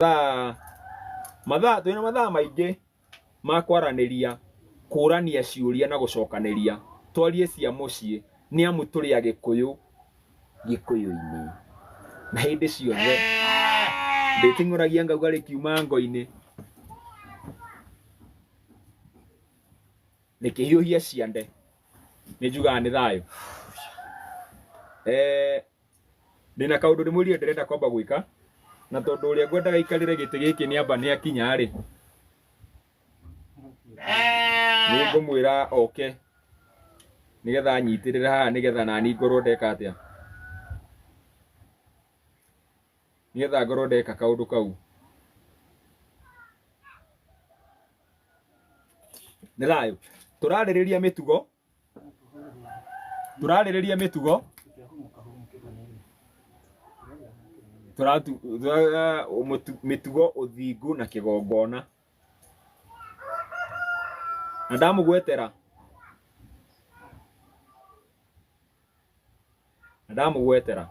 mathaa mathaa twĩ na mathaa maingĩ ma kwaranĩria kũrania ciũria na gũcokanĩria twarie cia mũciĩ nĩ amu tũrĩ a gĩkũyũ gĩkũyũ-inĩ na hĩndĩ ciothe ndĩting'ũragia ngauga rĩkiuma ngo-inĩ rĩkĩhiũhia ciande nĩ njugaga nĩ thayũ eh, ndĩna kaũndũ ndĩmwĩrire ndĩrenda kwamba gwĩka na tondũ ũrĩa ngwendaga aikarĩre gĩtĩ gĩkĩ nĩ amba nĩ akinya rĩ nĩ ngũmwĩra oke nĩgetha anyitĩrĩre haha nĩgetha nani ngorwo ndeka atĩa nĩgetha ngorwo ndeka kaũndũ kau nĩ thayũ tũrarĩrĩria mĩtugo turarĩrĩria mĩtugo turatu- tura- mũtu- mĩtugo ũthingu na kĩgongona na ndamũgwetera na ndamũgwetera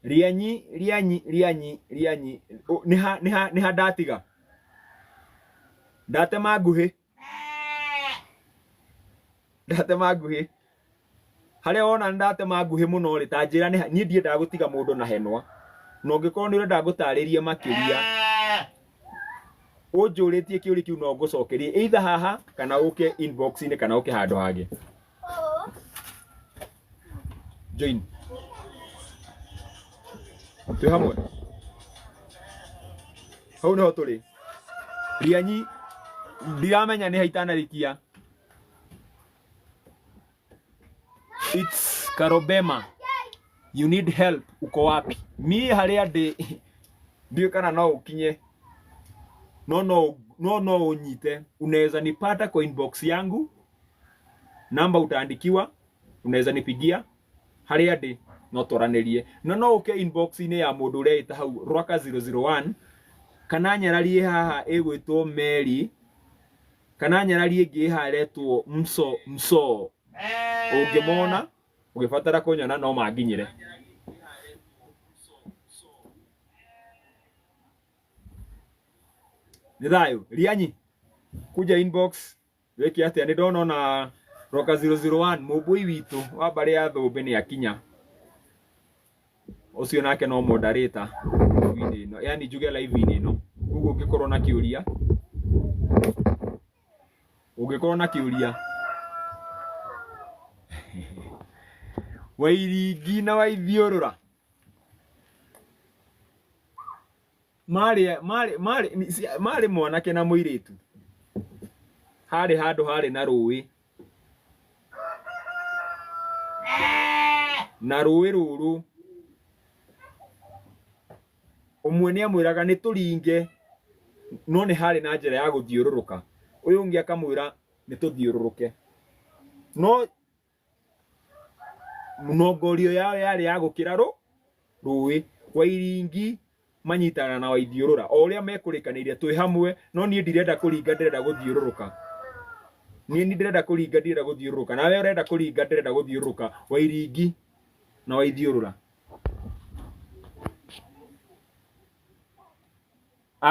rianyi rianyi rianyi rianyi Ũ- nĩ ha nĩ ha nĩ ha ndatiga ndatema nguhĩ ndatema nguhĩ harĩa wona nĩ ndatema nguhĩ mũno rĩ ta njĩra nĩ ha- niĩ ndiendaga gũtiga mũndũ na henwa na ũngĩkorwo nĩ ũrenda ngũtarĩrie makĩria ũnjũrĩtie kĩũria kĩu no ngũcokerie either haha kana ũke inbox-inĩ kana ũke handũ hangĩ Jane. Twĩ hamwe. Hau nĩho tũrĩ. Rianyi ndiramenya nĩ haitanarikia. It's Karobema. You need help. Uko wapi? Niĩ harĩa ndĩ ndiĩ kana no ũkinye no no no no unyite unaweza nipata kwa inbox yangu namba utaandikiwa unaweza nipigia haria ndi no twaranirie no no uke inbox ini ya mundu uria ita hau rwaka 001 kana nyararie haha igwitwo meri kana nyararie ingi haretwo mso mso ungimona ugibatara kunyona no manginyire nĩ thayũ rianyi kuja inbox wĩke atĩa nĩ ndona ona roka 001 mũmbũi witũ wa mbarĩ ya thũmbĩ nĩ akinya ũcio nake no moderator live-inĩ ĩno yani njuge live-inĩ ĩno koguo ũngĩkorwo na kĩũria ũngĩkorwo na kĩũria wairingi na waithiũrũra marĩ marĩ marĩ marĩ mwanake na mũirĩtu harĩ handũ harĩ na rũĩ na rũĩ rũrũ ũmwe nĩ amwĩraga nĩ tũringe no nĩ harĩ na njĩra ya gũthiũrũrũka ũyũ ũngĩ akamwĩra nĩ tũthiũrũrũke no mĩnongorio yao yarĩ ya gũkĩra rũ rũĩ wairingi manyitana na waithiũrũra o ũrĩa mekũrĩkanĩire twĩ hamwe no niĩ ndirenda kũringa ndĩrenda gũthiũrũrũka niĩ ni ndĩrenda kũringa ndirenda gũthiũrũrũka nawe ũrenda kũringa ndĩrenda gũthiũrũrũka wairingi na waithiũrũra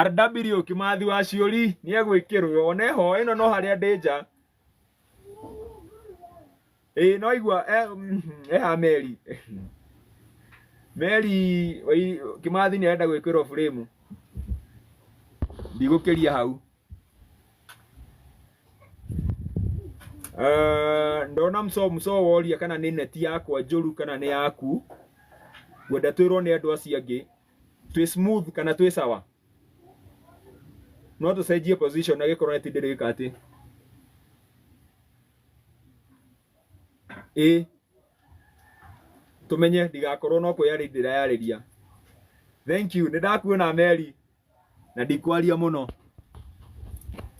RW Kimathi wa Ciũri nĩ egwĩkĩrwo one ho ĩno no harĩa ndĩ nja ĩĩ no aigua eh, mm, eha meri meri wai- kĩmathi nĩ arenda gwĩkĩrwo burĩmu ndigũkĩria hau Eh, ndona mso mso woria kana nĩ neti yakwa njũru kana nĩ yaku ngwenda twĩrwo nĩ andũ acio angĩ twĩ smooth kana twĩ sawa no tũcenjie position na gĩkorwo neti ndĩrĩ ĩka atĩ ĩ tũmenye ndigakorwo no kwĩyarĩ ndĩrayarĩria thank you nĩndakuona meri na ndikwaria mũno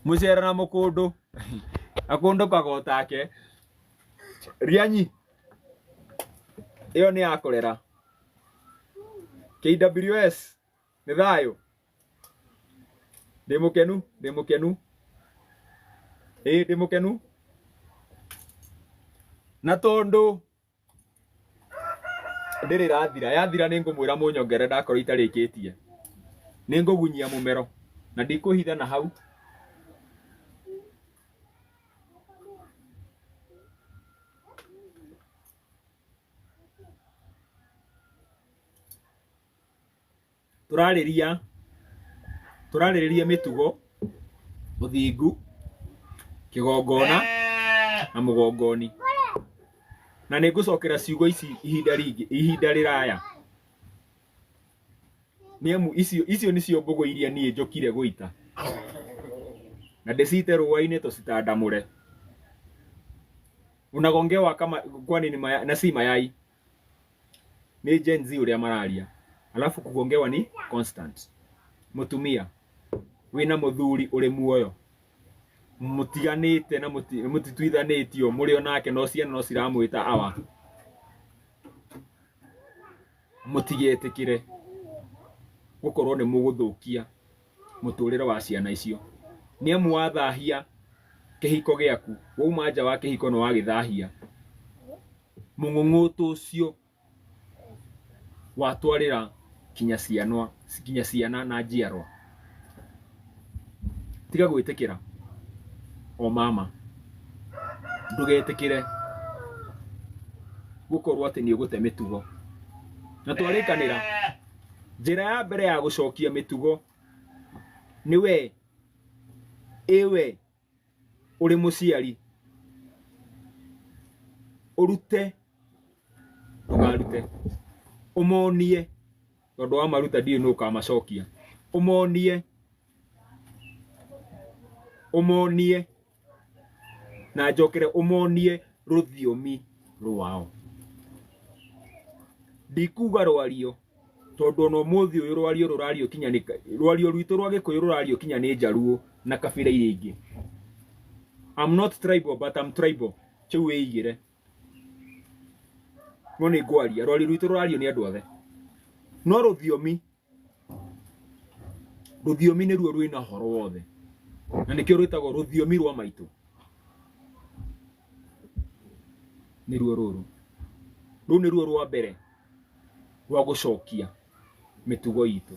mũcera na mũkũndũ akũndũ kagotake rianyi ĩyo nĩ ya kũrera KWS nĩ thayũ ndĩ mũkenu ndĩ mũkenu ĩĩ ndĩ mũkenu na tondũ ndĩrĩ ĩrathira yathira nĩ ngũmwĩra mũnyongere ndakorwo itarĩkĩtie nĩ ngũgunyia mũmero na ndikũhitha na hau tũrarĩria tũrarĩrĩria mĩtugo mũthingu kĩgongona na mũgongoni na nĩ ngũcokera ciugo ici ihinda rĩngĩ ihinda rĩraya nĩ amu icio icio nĩcio mbũgũ iria niĩ njokire gũita na ndĩcite rũa-inĩ tũcitandamũre unagongewa kama kwani ni maya, na si mayai nĩ Gen Z ũrĩa mararia alafu kugongewa ni constant mutumia wina muthuri uri muoyo mutiganite na muti- mutituithanĩtio mũrĩ o nake no ciana no ciramwĩta awa mũtigetĩkĩre gũkorwo nĩ mũgũthũkia mũtũrĩre wa ciana icio nĩ amu wathahia kĩhiko gĩaku wauma nja wa kĩhiko nĩ wagĩthahia mũng'ũng'ũtũ ũcio watwarĩra kinya ciana kinya ciana na njiarwa tiga gwĩtĩkĩra o mama ndũgetĩkĩre gũkorwo atĩ nĩ ũgũte mĩtugo na twarĩkanĩra njĩra ya mbere ya gũcokia mĩtugo nĩ we ĩwe ũrĩ mũciari ũrute ndũkarute ũmonie tondũ wamaruta ndiũĩ nũ ũkamacokia ũmonie ũmonie na njokere ũmonie rũthiomi rwao ndikuga rwario tondũ ona ũmũthĩ ũyũ rwario rũrario kinya nĩ rwario rwitũ rwa gĩkũyũ rũrario kinya nĩ njaruo na kabira iria ingĩ I'm not tribal but I'm tribal kĩu wĩigĩre no nĩ ngwaria rwario rwitũ rũrario nĩ andũ othe no rũthiomi Rũthiomi nĩruo rwĩna ũhoro wothe na nĩkĩo rwĩtagwo rũthiomi rwa maitũ, nĩruo rũrũ. Rũu nĩruo rwa mbere rwa gũcokia mĩtugo itũ.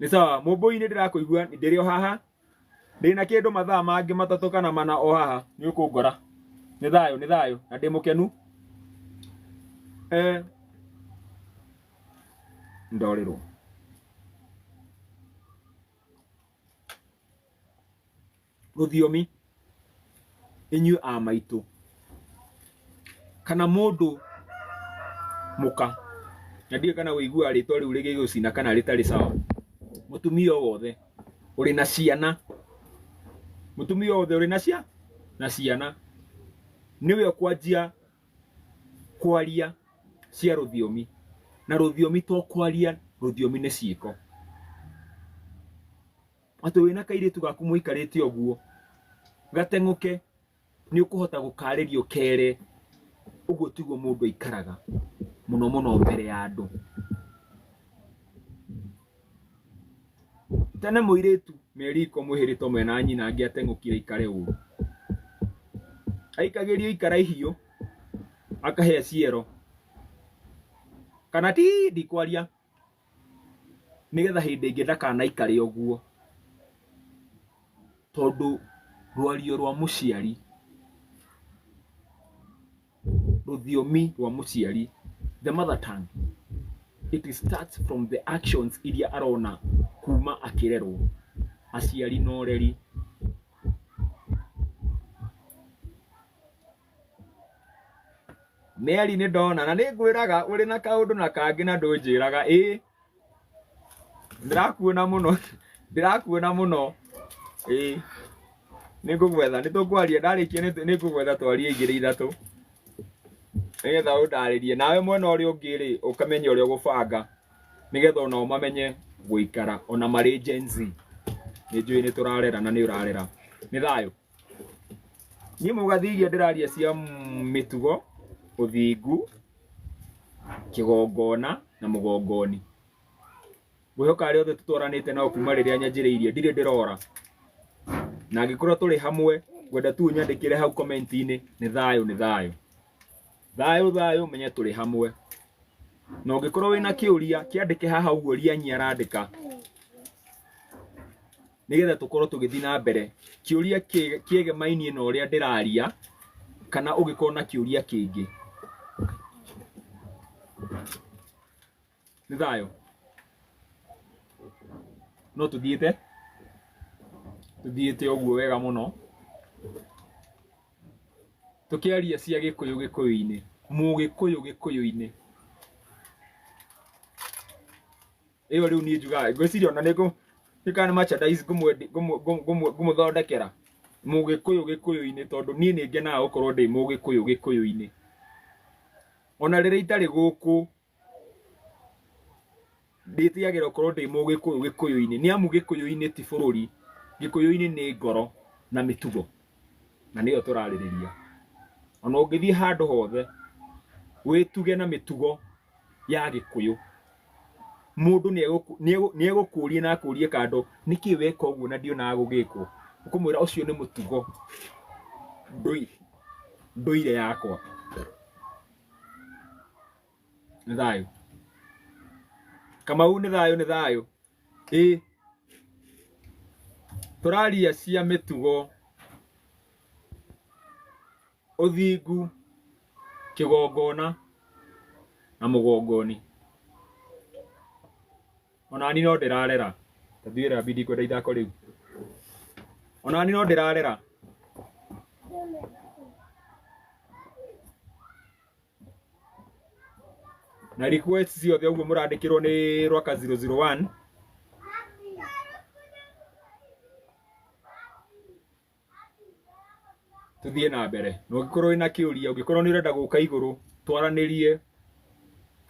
nĩ sawa mũmbũi nĩ ndĩrakũigua ndĩrĩ o haha ndĩna kĩndũ mathaa mangĩ matatũ kana mana o haha nĩ ũkũngora nĩ thayũ nĩ thayũ na ndĩ mũkenu eh, ndorĩrwo rũthiomi inyuĩ a maitũ kana mũndũ mũka na ndiũĩ kana ũiguaga rĩtwa rĩu rĩgĩgũcina kana rĩtarĩ sawa mũtumia o wothe ũrĩ na ciana mũtumia o wothe ũrĩ na cia na ciana nĩwe ũkwanjia kwaria cia rũthiomi na rũthiomi to kwaria rũthiomi nĩ ciĩko atĩ wĩna kairĩtu gaku mũikarĩte ũguo gateng'ũke nĩ ũkũhota gũkarĩrio kere ũguo tiguo mũndũ aikaraga mũno mũno mbere ya andũ tene mũirĩtu meriko mwĩhĩrĩtwo mwena nyina angĩ ateng'ũkire aikare ũru aikagĩrio ikara ihiũ akahĩa ciero kana ti ndikwaria nĩgetha hĩndĩ ĩngĩ ndakanaikare ũguo tondũ rwario rwa mũciari rũthiomi rwa mũciari the mother tongue it starts from the actions iria arona kuma akĩrerwo aciari na ũreri Meri nĩ ndona na nĩ ngwĩraga ũrĩ na kaũndũ na kangĩ na ndũnjĩraga ĩ ndĩrakuona mũno ndĩrakuona mũno ĩ nĩ ngũgwetha nĩ tũkwaria ndarĩkia nĩ nĩ ngũgwetha twarie igĩrĩ ithatũ nĩgetha ũndarĩrie nawe mwena ũrĩa ũngĩ rĩ ũkamenye ũrĩa ũgũbanga nĩgetha onao mamenye gũikara ona marĩ Gen Z nĩ njũĩ nĩ tũrarera na nĩ ũrarera nĩ thayũ niĩ mũgathi iria ndĩraria cia mĩtugo ũthingu kĩgongona na mũgongoni ngwĩhoka arĩa othe tũtwaranĩte nao kuma rĩrĩa nyanjĩrĩirie ndirĩ ndĩrora na angĩkorwo tũrĩ hamwe ngwenda tu nyandĩkĩre hau komenti-inĩ nĩ thayũ nĩ thayũ thayũ thayũ menye tũrĩ hamwe na ũngĩkorwo wĩna kĩũria kĩandĩke haha ũguo rianyi arandĩka nĩgetha tũkorwo tũgĩthiĩ na mbere kĩũria kĩ- kĩegemainie na ũrĩa ndĩraria kana ũngĩkorwo na kĩũria kĩngĩ nĩ thayũ no tũthiĩte tũthiĩte ũguo wega mũno tũkĩaria cia gĩkũyũ gĩkũyũ-inĩ mũgĩkũyũ gĩkũyũ-inĩ ĩyo rĩu niĩ njugaga ngwĩciria ona nĩ ngũ- nĩ kana nĩ merchandise ngũmwendi- ngũmũ- ngũmũ- ngũmũ- ngũmũthondekera mũgĩkũyũ gĩkũyũ-inĩ tondũ niĩ nĩ ngenaga gũkorwo ndĩ mũgĩkũyũ gĩkũyũ-inĩ ona rĩrĩa itarĩ gũkũ ndĩtigagĩra gũkorwo ndĩ mũgĩkũyũ gĩkũyũ-inĩ nĩ amu gĩkũyũ-inĩ ti bũrũri gĩkũyũ-inĩ nĩ ngoro na mĩtugo na nĩyo tũrarĩrĩria ona ũngĩthiĩ handũ hothe wĩtuge na mĩtugo ya gĩkũyũ mũndũ nĩegũkũ- nĩegũ- nĩegũkũria na akũrie kando nĩkĩ weka ũguo na ndionaga gũgĩkwo ũkũmwĩra ũcio nĩ mũtugo ndũi- ndũire yakwa nĩ thayũ kamau nĩ thayũ nĩ thayũ ĩ tũraria cia mĩtugo Ũthingu, kĩgongona na mũgongoni. Onani no ndĩrarera. Tathiĩ wĩra bidi kwenda ithako rĩu. Onani no ndĩrarera. Na request ciothe ũguo mũrandĩkĩrwo nĩ Rwaka 001 tuthiĩ na mbere na ũngĩkorwo wĩna kĩũria ũngĩkorwo nĩ ũrenda gũka igũrũ twaranĩrie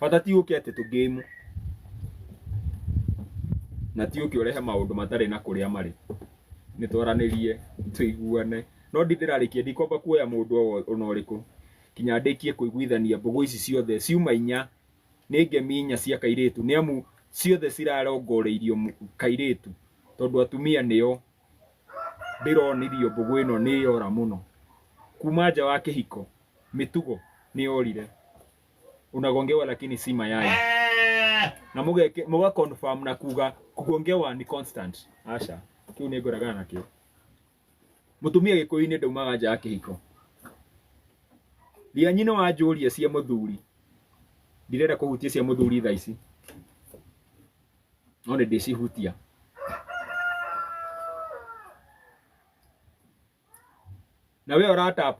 bata ti ũke atĩ tũ game na ti ũke ũrehe maũndũ matarĩ na kũrĩa marĩ nĩ twaranĩrie tũiguane no ndi ndĩrarĩkia ndikwamba kuoya mũndũ o wo- ona ũrĩkũ kinya ndĩkie kũiguithania mbũgũ ici ciothe ciuma inya nĩ ngemi inya cia kairĩtu nĩ amu ciothe cirarongoreirio mũ- kairĩtu tondũ atumia nĩo ndĩronirio mbũgũ ĩno nĩ yora mũno kuma nja wa kĩhiko mĩtugo nĩ yorire unagongewa lakini si mayai na mũgeke- mũga confirm na kuga kugongewa ni constant aca kĩu nĩ ngoragana nakĩo mũtumia gĩkũyũ-inĩ ndaumaga nja ya kĩhiko ria nyina wa njũria cia mũthuri ndirenda kũhutia cia mũthuri thaa ici no nĩ ndĩcihutia. Na we ũra tap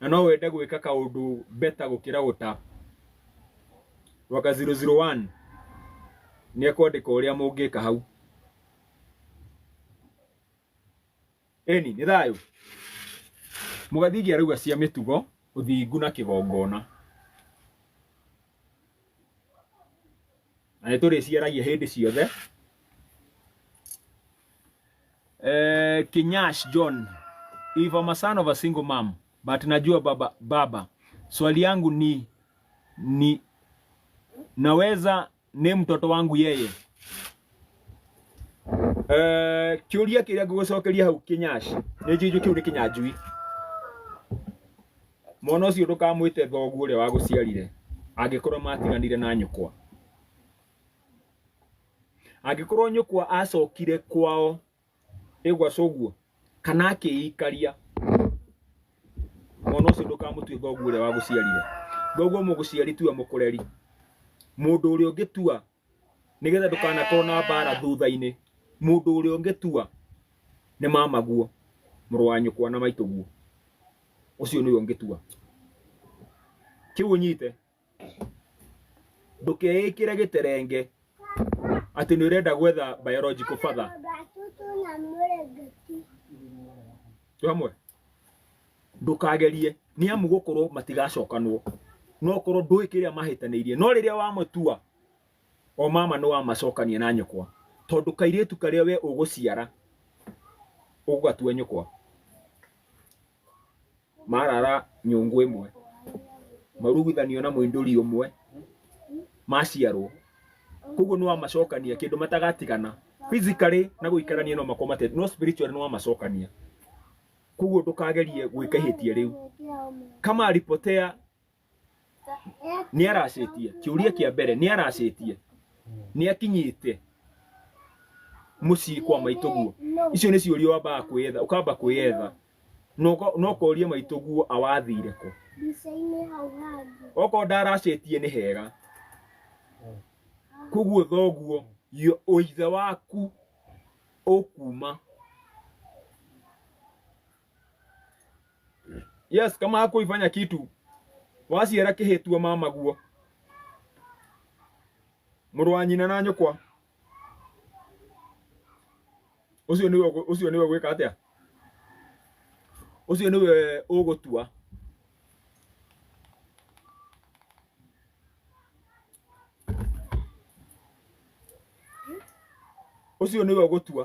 na no wende gwĩka kaũndũ better gũkĩra gũ tap. Waka 001 nĩ ekwandĩka ũrĩa mũngĩka hau. Eni, nĩ thayũ. Mũgathingi arauga cia mĩtugo, ũthingu na kĩgongona. Na nĩ tũrĩciaragia hĩndĩ ciothe. Eh, Kinyash John, if I'm a son of a single mom, but najua baba, baba. Swali yangu ni ni naweza nĩ mtoto wangu yeye Eh, kiuria kiria ngugucokeria hau kinyash ni njinju kiu ni kinyanjui mwana ucio ndukamwite thogu uria waguciarire angikorwo matiganire na nyukwa angikorwo nyukwa acokire kwao ĩgwaca ũguo kana akĩikaria mwana ũcio ndũkamũtue ngoguo ũrĩa wagũciarire ngoguo mũgũciari tua mũkũreri mũndũ ũrĩa ũngĩtua nĩgetha ndũkanakorwo na mbara thutha-inĩ mũndũ ũrĩa ũngĩtua nĩ mamaguo mũrũ wa nyũkwa na maitũguo ũcio nĩwe ũngĩtua kĩu ũnyite ndũkeĩkĩre gĩterenge atĩ nĩ ũrenda gwetha biological father tũ hamwe ndũkagerie nĩ amu gũkorwo matigacokanwo no korwo ndũĩ kĩrĩa mahĩtanĩirie no rĩrĩa wamatua o mama nĩ wamacokania na nyũkwa tondũ kairĩtu karĩa we ũgũciara ũgatua nyũkwa marara nyũngũ ĩmwe, maruguithanio na mũindũri ũmwe, maciarwo. Koguo nĩ wamacokania, kĩndũ matagatigana. Physically na gũikarania no makorwo mate, no spiritually nĩ wamacokania. Koguo ndũkagerie gwĩka ihĩtia rĩu. Kama alipotea nĩ aracĩtie kĩũria kĩa mbere nĩ aracĩtie nĩ akinyĩte mũciĩ kwa maitũguo icio nĩ ciũria wambaga kwĩyetha ũkamba kwĩyetha na ũko- na ũkoria maitũguo awathire kũ Mbica-inĩ hau hangĩ. okorwo ndaracĩtie nĩ hega koguo thoguo yo- ũithe waku ũkuma Yes, kama hakuifanya kitu waciara kĩhĩtua mamaguo mũrũ wa nyina na nyũkwa ũcio nĩwe ũgũ- ũcio nĩwe gwĩka atĩa ũcio nĩwe ũgũtua ũcio nĩwe ũgũtua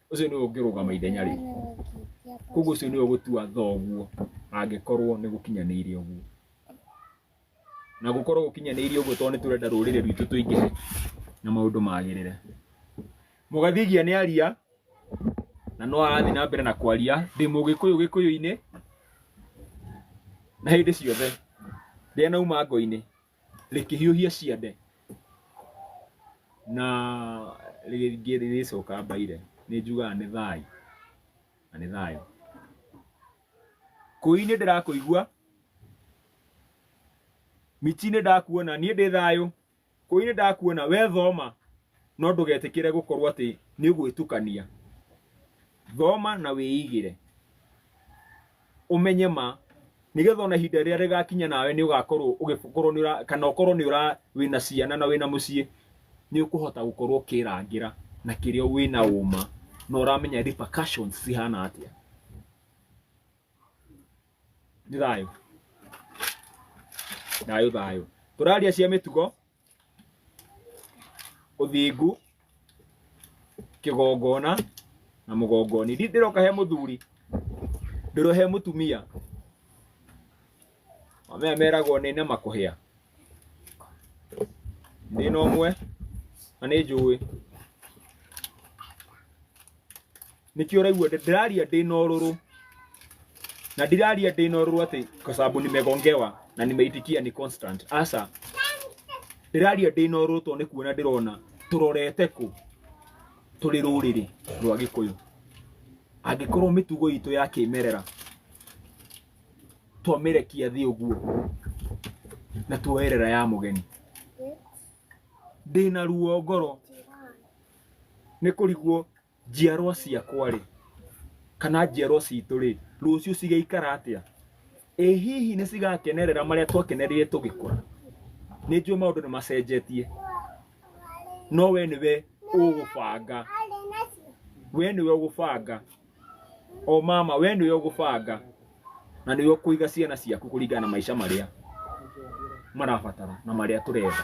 ũcio nĩwe ũngĩrũgama ithenya rĩu koguo ũcio nĩwe ũgũtua thoguo angĩkorwo nĩ gũkinyanĩire ũguo na gũkorwo gũkinyanĩire ũguo tondũ nĩ tũrenda rũrĩrĩ rwitũ tũingĩhe na maũndũ magĩrĩre mũgathigia nĩ aria na no arathiĩ na mbere na kwaria ndĩ mũgĩkũyũ gĩkũyũ-inĩ na hĩndĩ ciothe rĩrĩa nauma ngo-inĩ rĩkĩhiũhia ciande na rĩngĩ rĩrĩcoka mbaire nĩ njugaga nĩ thayũ na nĩ thayũ kũi nĩ ndĩrakũigua miti nĩ ndakuona niĩ ndĩ thayũ kũi nĩ ndakuona we thoma no ndũgetĩkĩre gũkorwo atĩ nĩ gwĩtukania thoma na wĩigĩre ũmenye ma nigetha ona ihinda rĩrĩa rĩgakinya nawe nĩ ũgakorwo ũgĩkorwo nĩ ũra kana ũkorwo nĩ ũra wĩna ciana na wĩna mũciĩ nĩ ũkũhota gũkorwo ũkĩrangĩra na kĩrĩa wĩna ũma na ũramenya repercussions cihana atĩa nĩ thayũ thayũ thayũ tũraria cia mĩtugo ũthingu kĩgongona na mũgongoni Ndi- ndĩroka he mũthuri ndĩro he mũtumia amaya meragwo nĩ na makũhĩa ndĩ na ũmwe na nĩ njũĩ nĩkĩo ũraigua ndĩ- ndĩraria ndĩ na ũrũrũ na ndiraria ndĩ na ũrũrũ atĩ kwa sababu nimegongewa na nimeitikia ni constant asa ndĩraria ndĩ na ũrũrũ tondũ nĩ kuona ndĩrona tũrorete kũ tũrĩ rũrĩrĩ rwa gĩkũyũ angĩkorwo mĩtugo itũ ya kĩmerera twamĩrekia thĩ ũguo na tuoerera ya mũgeni ndĩ na ruo ngoro nĩ kũrigwo njiarwa ciakwa-rĩ, kana njiarwa citũ-rĩ, rũciũ cigaikara atĩa? Ĩ hihi nĩ cigakenerera marĩa twakenereire tũgĩkũra? Nĩ njũĩ maũndũ nĩ macenjetie, no we nĩwe ũgũbanga, we nĩwe ũgũbanga, o mama we nĩwe ũgũbanga, na nĩwe ũkũiga ciana ciaku kũringana na maica marĩa marabatara na marĩa tũrenda.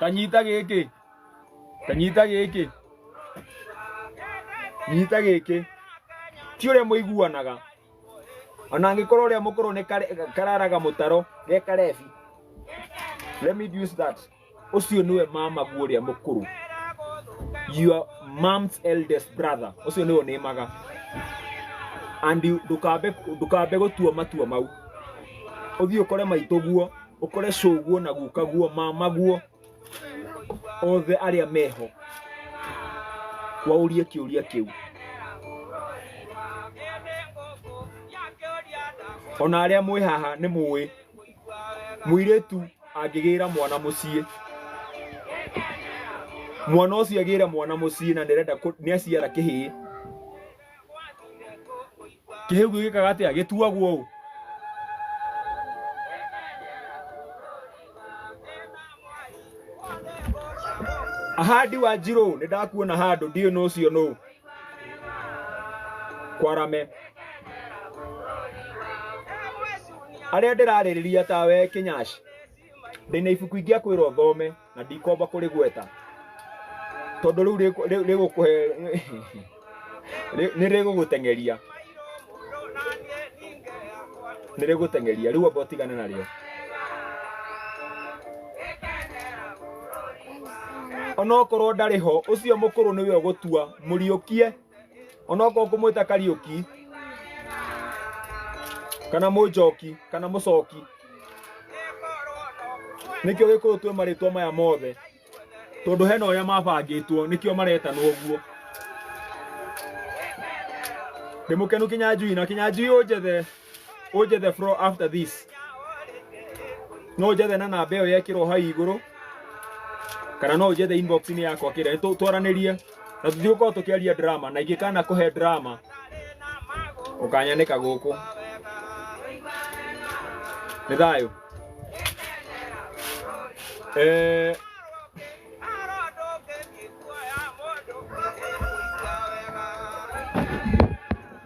kanyita gĩkĩ kanyita gĩkĩ nyita gĩkĩ ti ũrĩa mũiguanaga ona angĩkorwo ũrĩa mũkũrũ nĩ kare- kararaga mũtaro ge karebi let me use that ũcio nĩwe mamagu ũrĩa mũkũrũ your mom's eldest brother ũcio nĩwe ũnĩmaga and ndũkambe ndũkambe gũtua matua mau ũthiĩ ũkore maitũguo ũkore cũguo na gukaguo mamaguo othe arĩa meho waũrie kĩũria kĩu ona arĩa mwĩ haha nĩ mũĩ mũirĩtu angĩgĩra mwana mũciĩ mwana ũcio agĩra mwana mũciĩ na nĩarenda kũ- nĩaciara kĩhĩĩ kĩhĩu gĩkĩ gĩkaga atĩa gĩtuagwo ũũ ahandi wa njirũ nĩ ndakuona handũ ndiũ nũ ũcio nũ kwarame arĩa ndĩrarĩrĩria tawe kĩnyaci ndĩna ibuku ingĩakwĩrwo thome na ndikomba kũrĩgweta tondũ rĩu rĩkũ- rĩ- rĩgũkũhe rĩ- nĩ rĩgũgũteng'eria nĩ rĩgũteng'eria rĩu amba ũtigane narĩo onokorwo ndarĩ ho ũcio mũkũrũ nĩwe ũgũtua mũriũkie onokorwo ngũmwĩta kariũki kana mũnjoki kana mũcoki nĩkĩo gĩkũyũ twĩ marĩtwa maya mothe tondũ hena ũrĩa mabangĩtwo nĩkĩo maretanwo ũguo ndĩmũkenu kinyanjui na kinyanjui ũnjethe Oje the floor after this. No njethe na namba ĩyo yekĩrwo hau igũrũ kana no njethe inbox-inĩ yakwa kĩrĩa tũ- twaranĩrie na tũthiĩ gũkorwo tũkĩaria drama na ingĩkana kũhe drama ũkanyanĩka gũkũ nĩ thayũ Eh,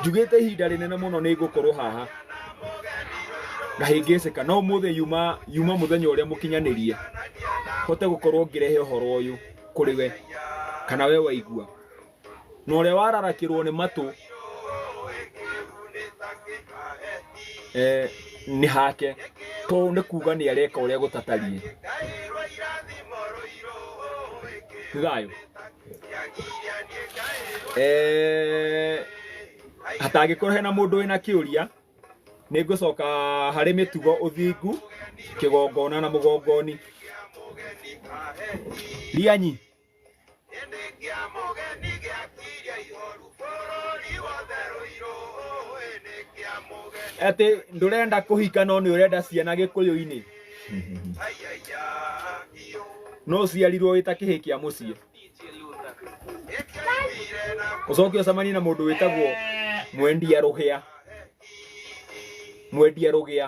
njugĩte ihinda rĩnene mũno nĩ ngũkorwo haha ngahĩngĩcĩka no mũthĩ yuma yuma mũthenya ũrĩa mũkinyanĩrie hote gũkorwo ngĩrehe ũhoro ũyũ kũrĩ we kana we waigua na ũrĩa wararakĩrwo nĩ matũ eh, nĩ hake to nĩ kuga nĩ areka ũrĩa gũtatariĩ thayũ eh hatangĩkorwo hena mũndũ wĩna kĩũria nĩ ngũcoka harĩ mĩtugo ũthingu kĩgongona na mũgongoni rianyi atĩ ndũrenda kũhika no nĩ ũrenda ciana gĩkũyũ-inĩ no ũciarirwo wĩ ta kĩhĩ kĩa mũciĩ ũcoke ũcemanie na mũndũ wĩtagwo mwendia rũhĩa mwendia rũgĩa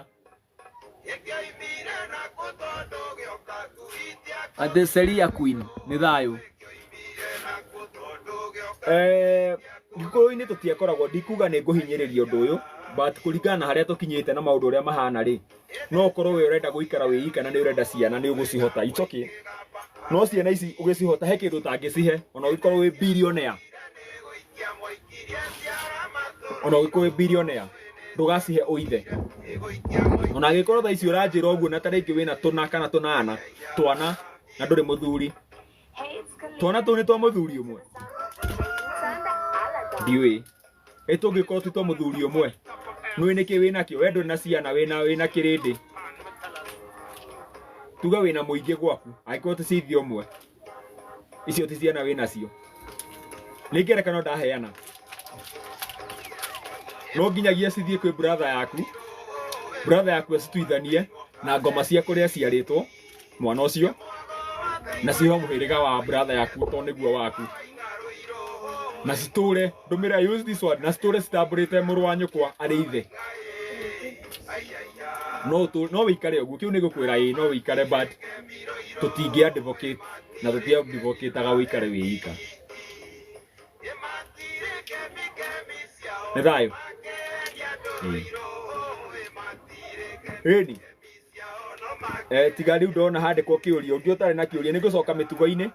Ate Seria Queen nĩ thayũ. Eh, gĩkũyũ-inĩ tũtiakoragwo ndikuga nĩ ngũhinyĩrĩria ũndũ ũyũ but kũringana na harĩa tũkinyĩte na maũndũ ũrĩa mahana rĩ no ũkorwo we ũrenda gũikara wĩika na nĩ ũrenda ciana nĩ ũgũcihota it's okay no ciana ici ũgĩcihota he kĩndũ ũtangĩcihe ona ũgĩkorwo wĩ billionaire ona ũgĩkorwo wĩ billionaire ndũgacihe ũithe ona agĩkorwo thaa ici ũranjĩra ũguo na tarĩngĩ wĩna tũna kana tũnana twana na ndũrĩ mũthuri twana tũu nĩ twa mũthuri ũmwe ndiũĩ ĩ tũngĩkorwo ti twa mũthuri ũmwe nũĩ nĩkĩ wĩnakĩo we ndũrĩ na ciana wĩna wĩna kĩrĩndĩ tuga wĩna mũingĩ gwaku angĩkorwo ti cithi ũmwe icio ti ciana wĩ nacio nĩ ngerekano ndaheana no nginyagia cithiĩ kwĩ brother yaku brother yaku acituithanie na ngoma cia kũrĩa ciarĩtwo mwana ũcio na ciho mũhĩrĩga wa brother yaku to nĩguo waku na citũre Ndũmĩra use this one na story citambũrĩte mũrũ wa nyũkwa arĩ ithe. No tu no wikare ũguo kiu nigukwira ii no wikare but tutingi advocate na tuti advocate aga wikare wiika. Nĩ thayũ. Ĩĩ. Rĩni. Eh, tiga rĩu ndona handĩkwo kĩũria ũngĩ ũtarĩ na kĩũria nĩ ngũcoka mĩtugo-inĩ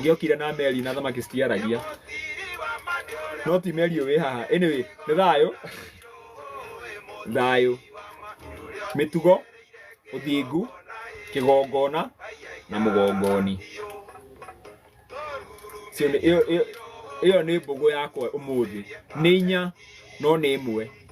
ngiokire na meri na thamaki citiaragia no ti meri ũyũ wĩ haha anyway nĩ thayũ thayũ mĩtugo ũthingu kĩgongona na mũgongoni Cio nĩ- ĩyo- ĩyo- ĩyo nĩ mbũgũ yakwa ũmũthĩ nĩ inya no nĩ ĩmwe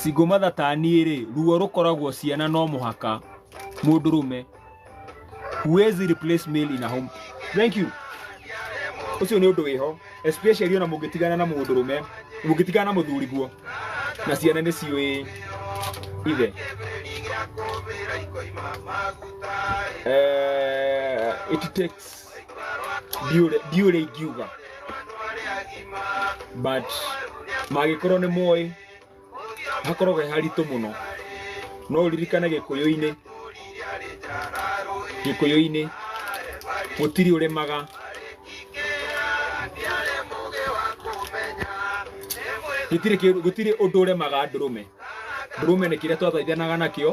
Singũmatha ta niĩ rĩ, ruo rũkoragwo ciana no mũhaka mũndũrũme. Huwezi replace male in a home. Thank you. Ũcio nĩ ũndũ wĩho, especially ona mũngĩtigana na mũndũrũme, mũngĩtigana na mũthuri guo, na ciana nĩ ciũĩ ithe. Eh, it takes ndiũrĩ ndiũrĩ ingiuga but mangĩkorwo nĩ moĩ hakoragwo he haritũ mũno no ũririkane gĩkũyũ-inĩ gĩkũyũ-inĩ gũtirĩ ũrĩmaga gũtirĩ kĩndũ- gũtirĩ ũndũ ũremaga ndũrũme ndũrũme nĩ kĩrĩa twathaithanaga nakĩo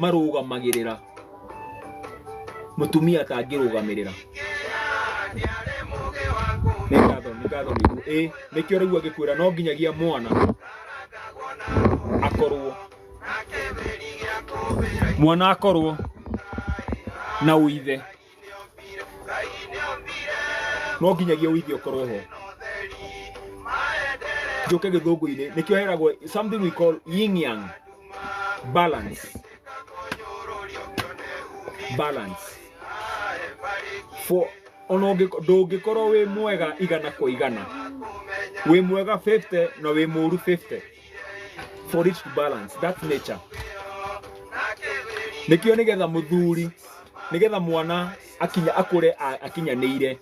marũgamagĩrĩra mũtumia atangĩrũgamĩrĩra nĩ ngatho nĩ ngatho nĩ guo ĩ nĩkĩo rĩu agĩkwĩra no nginyagia mwana akorwo mwana akorwo na ũithe no nginyagia ũithio ũkorwo ho njoke gĩthũngũ-inĩ nĩkĩo heragwo something we call yin yang balance balance for ona ũngĩko- ndũngĩkorwo wĩ mwega igana kwa igana wĩ mwega 50 na wĩ mũru 50 for it to balance that's nature nikio nigetha muthuri nigetha mwana akinya akure a- akinyanĩire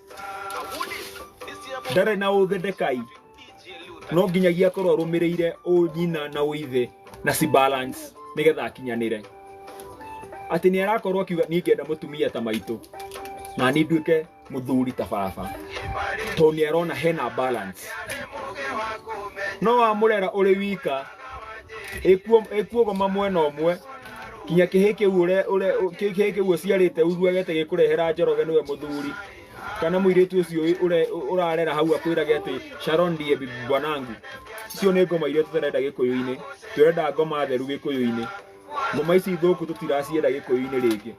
ndarĩ na ũthĩ ndekai no nginyagia akorwo arũmĩrĩire ũnyina na ũithe na si balance nigetha akinyanĩre atĩ nĩ arakorwo akiuga niĩ ngenda mũtumia ta maitũ na niĩ nduĩke mũthuri ta baba tondũ nĩ arona hena balance no wamũrera ũrĩ wika ĩkuogoma mwena ũmwe kinya kĩhĩ kĩu ũre- ũre- kĩ- kĩhĩ kĩu ũciarĩte uruagete gĩkũrehera njoroge nĩwe mũthuri kana mũirĩtu ũcio wĩ- ũre- ũrarera hau akwĩrage atĩ Sharon ndiye bibi bwanangu icio nĩ ngoma iria tũtarenda gĩkũyũ-inĩ tũrenda ngoma theru gĩkũyũ-inĩ Ngoma ici thũku tũtiracienda gĩkũyũ-inĩ rĩngĩ.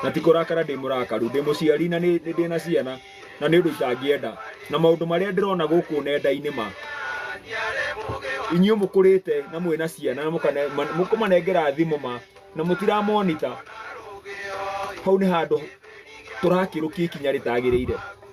Na ti kũrakara ndĩ mũrakaru, ndĩ mũciari na nĩ nĩ ndĩ na ciana na nĩ ũndũ itangĩenda. Na maũndũ marĩa ndĩrona gũkũ nenda-inĩ ma, inyuĩ mũkũrĩte na mwĩna ciana na mũkane- ma- mũkũmanengera thimũ ma, na mũtira monitor, hau nĩ handũ tũrakĩrũkia ikinya rĩtagĩrĩire.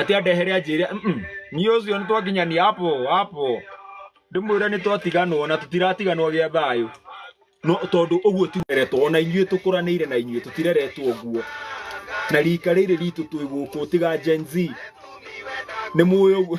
ati andehere anjĩre "Mm-mm, niĩ ũcio nĩ twakinya nĩ hapo hapo ndĩmwĩre nĩ twatiganwo na tũtiratiganwo gĩa thayũ no tondũ ũguo tireretwo ona inyuĩ tũkũranĩire na inyuĩ tũtireretwo ũguo na rika rĩrĩ ritũ twĩ gũkũ tiga Gen Z nĩ mũĩ ũguo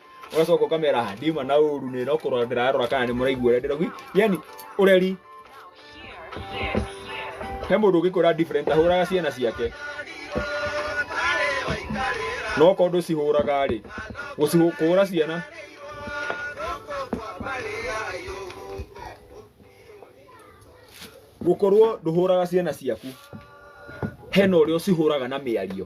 ũgacoka ũkamera "Ah, ndiuma na ũru nĩ no kũrora ndĩrarora kana nĩ mũraigua ũrĩa ndĩrauga yani ũreri he mũndũ ũngĩkũra different ahũraga ciana ciake no ko ndũcihũraga rĩ gũcihu- kũhũra ciana gũkorwo ndũhũraga ciana ciaku hena ũrĩa ũcihũraga na mĩario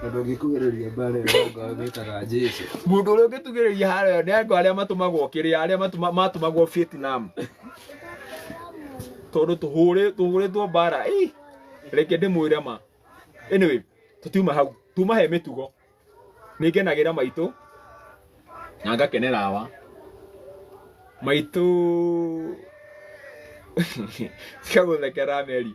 Tondũ ũngĩkuhĩrĩria mbaara ĩyo ya ngwa wĩtaga Jesu. Mũndũ ũrĩa ũngĩtugĩrĩria haro ĩyo nĩ andũ arĩa matũmagwo kĩrĩa arĩa matuma- matũmagwo Vietnam. Tondũ tũhũrĩ- tũhũrĩtwo mbara. Ĩ, Reke ndĩmwĩre ma. Anyway, tũtiuma hau. Tuma he mĩtugo. Nĩngenagĩra maitũ na ngakenera awa. Maitũ Sikagũthekera Meri.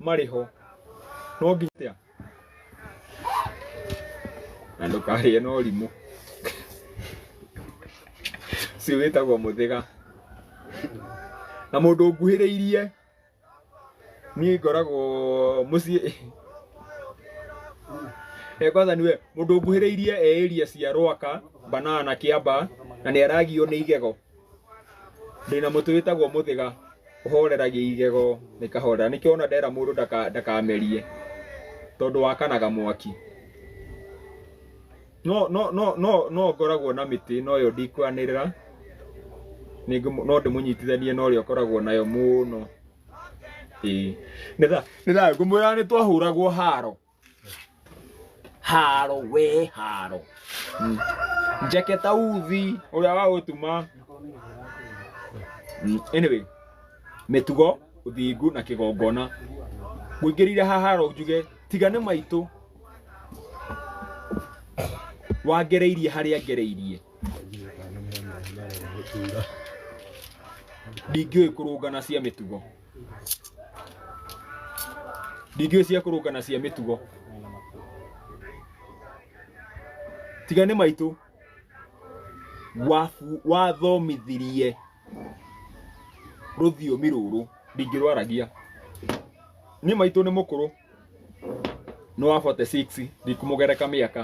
marĩ ho no nginya na ndũkarĩe na ũrimũ ũcio wĩtagwo mũthĩga na mũndũ nguhĩrĩirie niĩ ngoragwo mũciĩ Eh, kwanza niwe mũndũ nguhĩrĩirie e area cia rwaka banana kĩamba na nĩ aragio nĩ igego ndĩna mũtĩ wĩtagwo mũthĩga ũhoreragia igego na ikahorera nĩkĩo ona ndera mũndũ ndaka- ndakamerie tondũ wakanaga mwaki no no no no no ngoragwo na mĩtĩ no yo ndikwanĩrĩra Nĩngũ- no ndĩmũnyitithanie na ũrĩa ũkoragwo nayo mũno Ĩĩ. nĩ tha nĩ tha ngũmwĩra nĩ twahũragwo haro haro we haro Mm. njeke ta uthi uria wa gutuma Mm, anyway mitugo uthingu na kigongona nguingirire ha haro njuge tigane maitå wangereirie harĩa ngereirie ndingĩũĩ kũrũngana cia mĩtugo ndingĩũĩ cia kũrũka na cia mĩtugo tiga nĩ maitũ wabu- wathomithirie rũthiomi rũrũ ndingĩrwaragia niĩ maitũ nĩ mũkũrũ nĩ wa 46 ndikũmũgereka mĩaka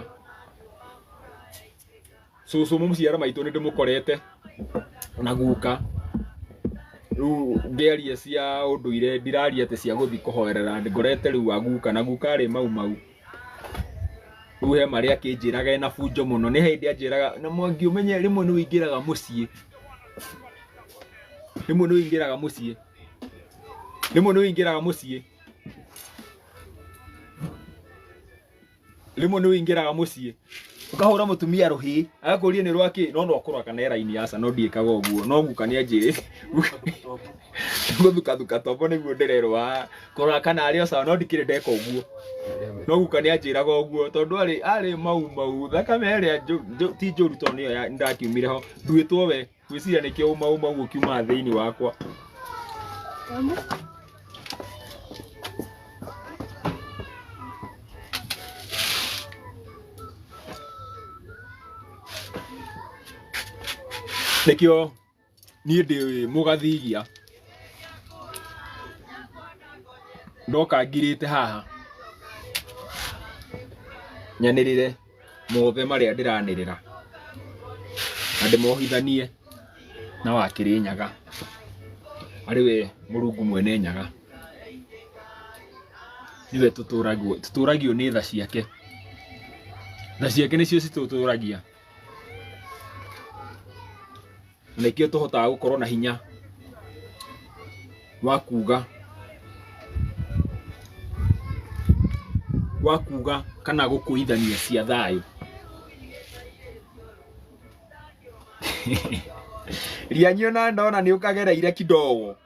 cũcũ mũciara maitũ nĩ ndĩmũkorete na guka rĩu ngĩaria cia ũndũire ndiraria atĩ cia gũthiĩ kũhoerera ngorete rĩu aguka na guka rĩ mau mau rĩu he marĩa akĩnjĩraga ena bunjo mũno nĩ hĩndĩ anjĩraga na mwangi ũmenye rĩmwe nĩ ũingĩraga mũciĩ rĩmwe nĩ ũingĩraga mũciĩ rĩmwe nĩ ũingĩraga mũciĩ Rĩmwe nĩ ũingĩraga mũciĩ ũkahũra mũtumia rũhĩ agakũria nĩ rwakĩ no no kũrwa kana era-inĩ yaca no ndiĩkaga ũguo no guka nĩ anjĩrĩte gũthukathuka tombo nĩguo ndĩrerwo "Ah, kũrora kana arĩ o sawa no ndikĩrĩ ndeka ũguo no guka nĩ anjĩraga ũguo tondũ arĩ arĩ mau mau thakame ĩrĩa njũ- njũ- ti njũru tondũ nĩyo ya- nĩndakiumire ho nduĩtwo we Ngwĩciria nĩkĩo uma uma ũguo kiumaga thĩinĩ wakwa. Nĩkĩo niĩ ndĩ mũgathigia ndoka ngirĩte haha nyanĩrĩre. mothe marĩa ndĩranĩrĩra na ndĩmohithanie na wakĩrĩ nyaga arĩ we mũrungu mwene nyaga nĩwe tũtũragio tũtũragio nĩ tha ciake tha ciake nĩcio citũtũragia na nĩkĩo tũhotaga gũkorwo na hinya wa kuga wa kuga kana gũkũithania cia thayũ rianyio na ndona nĩ ũkagereire kidogo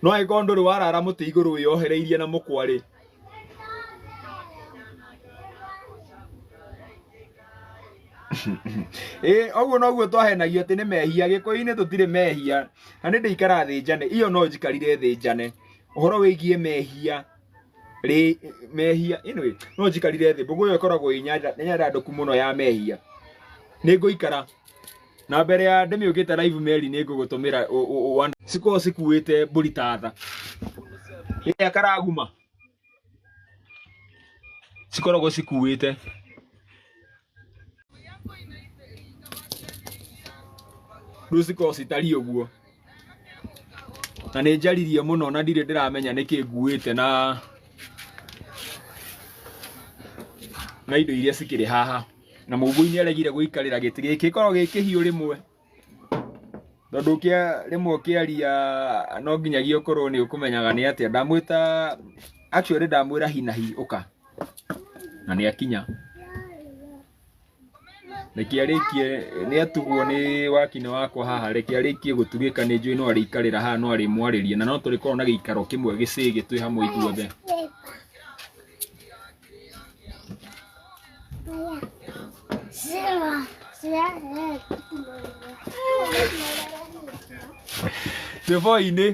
no angĩkorwo ndũrĩ warara mũtĩ igũrũ wĩyohereirie na mũkwa rĩ ĩ ũguo noguo twahenagio atĩ nĩ mehia gĩkũyũ-inĩ tũtirĩ mehia na nĩ ndĩikara thĩ njane iyo no njikarire thĩ njane ũhoro wĩgiĩ mehia rĩ mehia anyway no njikarire thĩ mbũgũ ĩyo ĩkoragwo ĩ nyanda nĩ nyanda ndũku mũno ya mehia nĩ ngũikara na mbere ya ndĩmĩũkĩte live meri nĩ ngũgũtũmĩra ũ- ũ- ũ- one- cikoragwo cikuĩte mbũri ta tha ĩrĩa karaguma cikoragwo cikuĩte rĩu cikoragwo citariĩ ũguo na nĩ njaririe mũno na ndirĩ ndĩramenya nĩkĩ nguĩte na na indo iria cikĩrĩ haha na mũmbu-inĩ aregire gũikarĩra gĩtĩ gĩkĩ gĩkoragwo gĩ kĩhiũ rĩmwe tondũ ũkĩa rĩmwe ũkĩaria no nginyagia ũkorwo nĩ ũkũmenyaga nĩ atĩa ndamwĩta actually ndamwĩra hi na hi ũka na nĩ akinya reke arĩkie nĩ atugwo nĩ wakinĩ wakwa haha reke arĩkie gũtugĩka nĩ njũĩ no arĩikarĩra haha no arĩmwarĩria na no tũrĩkorwo na gĩikaro kĩmwe gĩcĩgĩ twĩ hamwe ithuothe Twĩ boinĩ.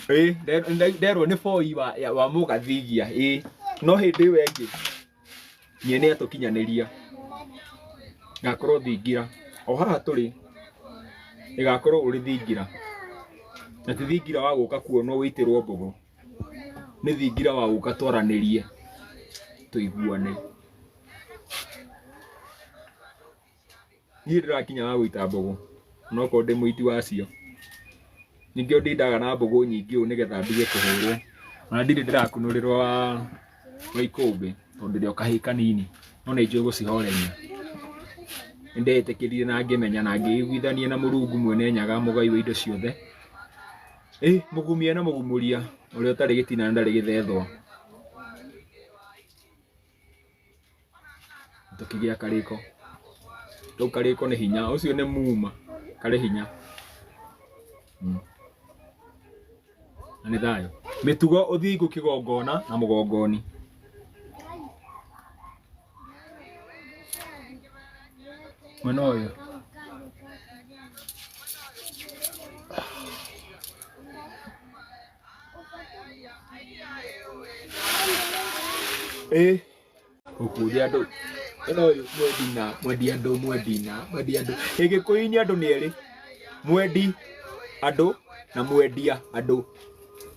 Ĩĩ, nde- nde- nderwo nĩ boi wa ya- wa mũgathigia. Ĩĩ, no hĩndĩ ĩyo ĩngĩ niĩ nĩ atũkinyanĩria. Ngakorwo thingira. O haha tũrĩ ĩgakorwo ũrĩ thingira. Na ti thingira wa gũka kuonwo wĩitĩrwo mbũgũ. nĩ thingira wa gũka twaranĩrie tũiguane niĩ ndĩrakinya wa gũita mbũgũ onokorwo ndĩ mũiti wacio ningĩ ndindaga na mbũgũ nyingĩ ũũ nĩgetha ndige kũhũrwo ona ndirĩ ndĩrakunũrĩrwo wa wa ikũmbĩ tondũ ndĩrĩ o kahĩĩ kanini no nĩ njũĩ gũcihoreria nĩndeyĩtĩkĩrire na ngĩmenya na ngĩiguithania na mũrungu mwene nyaga mũgai wa indo ciothe Ĩ mũgumia na mũgumuria ũrĩa ũtarĩ gĩtina na ndarĩ gĩthethwa tũkĩgĩa karĩko rĩu karĩko nĩ hinya ũcio nĩ muma karĩ hinya Mm. na nĩ thayũ mĩtugo ũthingu kĩgongona na mũgongoni mwena ũyũ ĩ ũkũria andũ ĩno ũyũ mwendi na mwendi andũ mwendi na mwendi andũ gĩgĩkũyũ-inĩ andũ nĩ erĩ mwendi andũ na mwendia andũ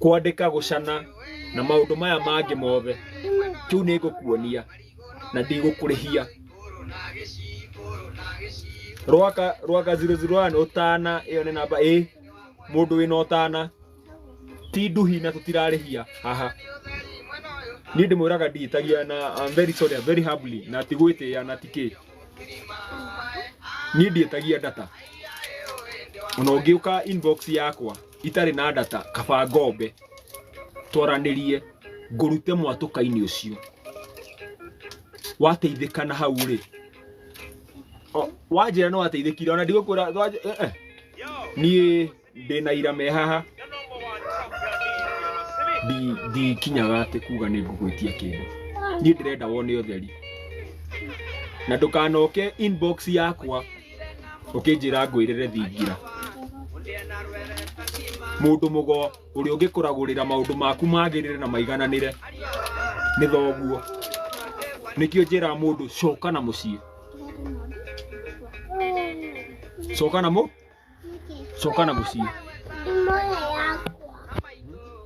kwandĩka gũcana na maũndũ maya mangĩ mothe kĩu nĩ ngũkuonia na ndigũkũrĩhia rwaka rwaka 001 ũtana ĩyo nĩ namba ĩ mũndũ wĩna ũtana ti nduhi na tũtirarĩhia haha niĩ ndĩmwĩraga ndihĩtagia na I'm very sorry I'm very humbly na tigwĩtĩa na tikĩ niĩ ndihĩtagia data ona ũngĩũka inbox yakwa itarĩ na ndata kaba ngombe twaranĩrie ngũrute mwatũka-inĩ ũcio wateithĩka na hau rĩ O- wanjĩra nĩ wateithĩkire ona ndigũkwĩra wanjĩ- eh, eh. niĩ ndĩ na ira me haha Ndi- ndikinyaga atĩ kuga nĩ ngũgwĩtia kĩndũ niĩ ndĩrenda wone ũtheri na ndũkanoke inbox yakwa ũkĩnjĩra ngwĩrĩre thingira mũndũ mũgo ũrĩa ũngĩkũragũrĩra maũndũ maku magĩrĩre na maigananĩre nĩ thoguo nĩkĩo njĩra mũndũ coka na mũciĩ coka na mũ coka na mũciĩ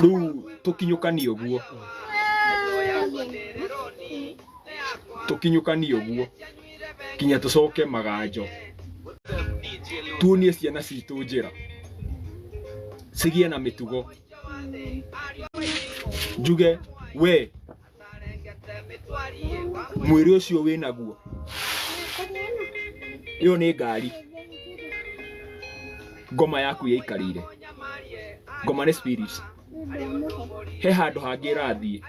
rĩu tũkinyũkanie ũguo tũkinyũkanie ũguo kinya tũcoke maganjo tuonie ciana citũ njĩra cigĩe na mĩtugo njuge we mwĩrĩ ũcio wĩ naguo ĩyo nĩ ngari ngoma yaku yaikarĩire ngoma nĩ spirit he handũ hangĩ ĩrathiĩ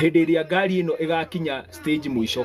hĩndĩ ĩrĩa ngari ĩno ĩgakinya stage mũico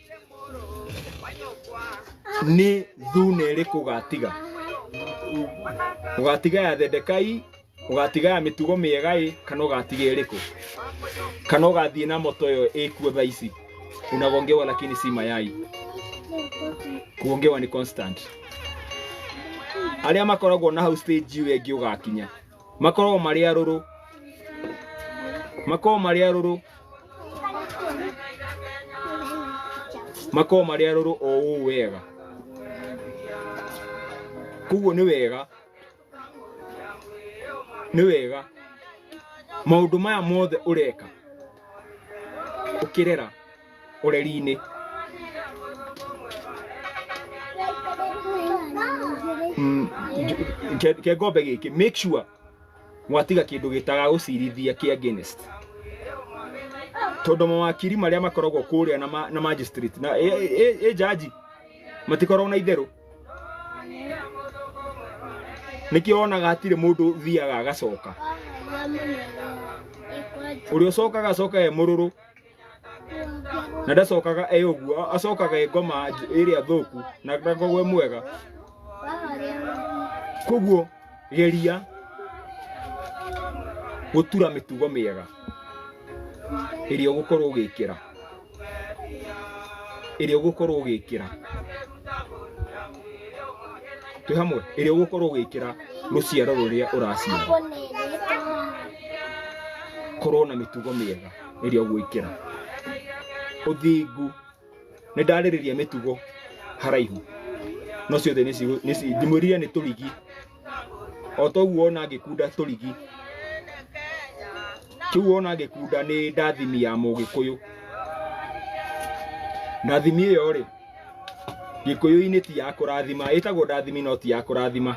nĩ thuna ĩrĩkũ ũgatiga ũgatiga ya Zedekai ũgatiga ya mĩtugo mĩega ĩ kana ũgatiga ĩrĩkũ kana ũgathiĩ na moto ĩyo ĩkuo thaa ici unagongewa lakini si mayai kuongewa ni constant arĩa makoragwo na hau stage ĩyo ĩngĩ ũgakinya makorwo marĩ arũrũ makorwo marĩ arũrũ makorwo marĩ arũrũ o ũũ wega koguo nĩ wega nĩ wega maũndũ maya mothe ũreka ũkĩrera ũreri-inĩ Mm, nj- ke- ke ngombe gĩkĩ make sure mwatiga kĩndũ gĩtaga gũcirithia kĩ against tondũ mawakiri marĩa makoragwo kũrĩa na, ma, na magistrate na e, e, e, jaji matikoragwo na itherũ nĩkĩo wonaga hatirĩ mũndũ thiaga agacoka ũrĩa ũcokaga acokaga e mũrũrũ na ndacokaga e ũguo a- acokaga e ngoma nj- ĩrĩa thũku na ndakoragwo e mwega koguo geria gũtura mĩtugo mĩega ĩrĩa ũgũkorwo ũgĩkĩra ĩrĩa ũgũkorwo ũgĩkĩra twĩ hamwe ĩrĩa ũgũkorwo ũgĩkĩra rũciaro rũrĩa ũraciara korwo na mĩtugo mĩega rĩrĩa ũgwĩkĩra ũthingu nĩ ndarĩrĩria mĩtugo haraihu no ciothe nĩ cigu- nĩ ci- ndimwĩrire nĩ tũrigi o toguo ona ngĩkunda tũrigi kĩu wona ngĩkunda nĩ ndathimi ya mũgĩkũyũ ndathimi ĩyo rĩ gĩkũyũ-inĩ ti ya kũrathima ĩtagwo ndathimi no ti ya kũrathima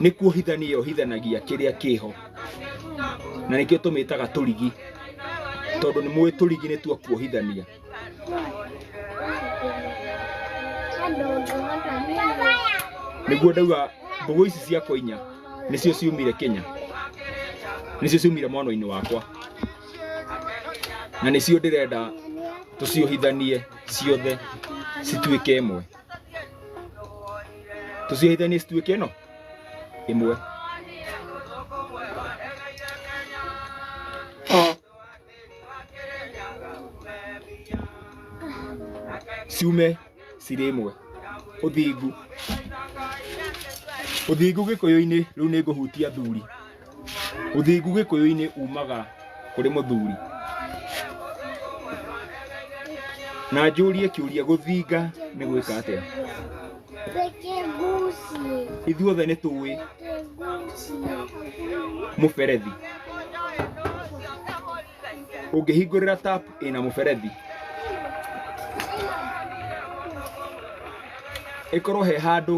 nĩ kuohithania yohithanagia kĩrĩa kĩho na nĩkĩo tũmĩtaga tũrigi tondũ nĩ mũĩ tũrigi nĩ tuo kuohithania nĩguo ndauga mbũgũ ici ciakwa inya nĩcio ciumire Kenya nĩcio ciumire mwana-inĩ wakwa na nĩcio ndĩrenda tũciohithanie ciothe cituĩke ĩmwe tũciohithanie cituĩke ĩno ĩmwe ciume cirĩ ĩmwe ũthingu ũthingu gĩkũyũ-inĩ rĩu nĩ ngũhutia athuri Ũthingu gĩkũyũ-inĩ umaga kũrĩ mũthuri. Na njũrie kĩũria gũthinga nĩ gwĩka atĩa? Ithuothe nĩ tũĩ mũberethi. Ũngĩhingũrĩra tap ĩna mũberethi, ĩkorwo he handũ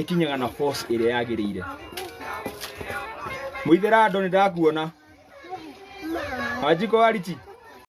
ĩkinyaga na force ĩrĩa yagĩrĩire mũithera andũ nĩ ndakuona wanjiko wariti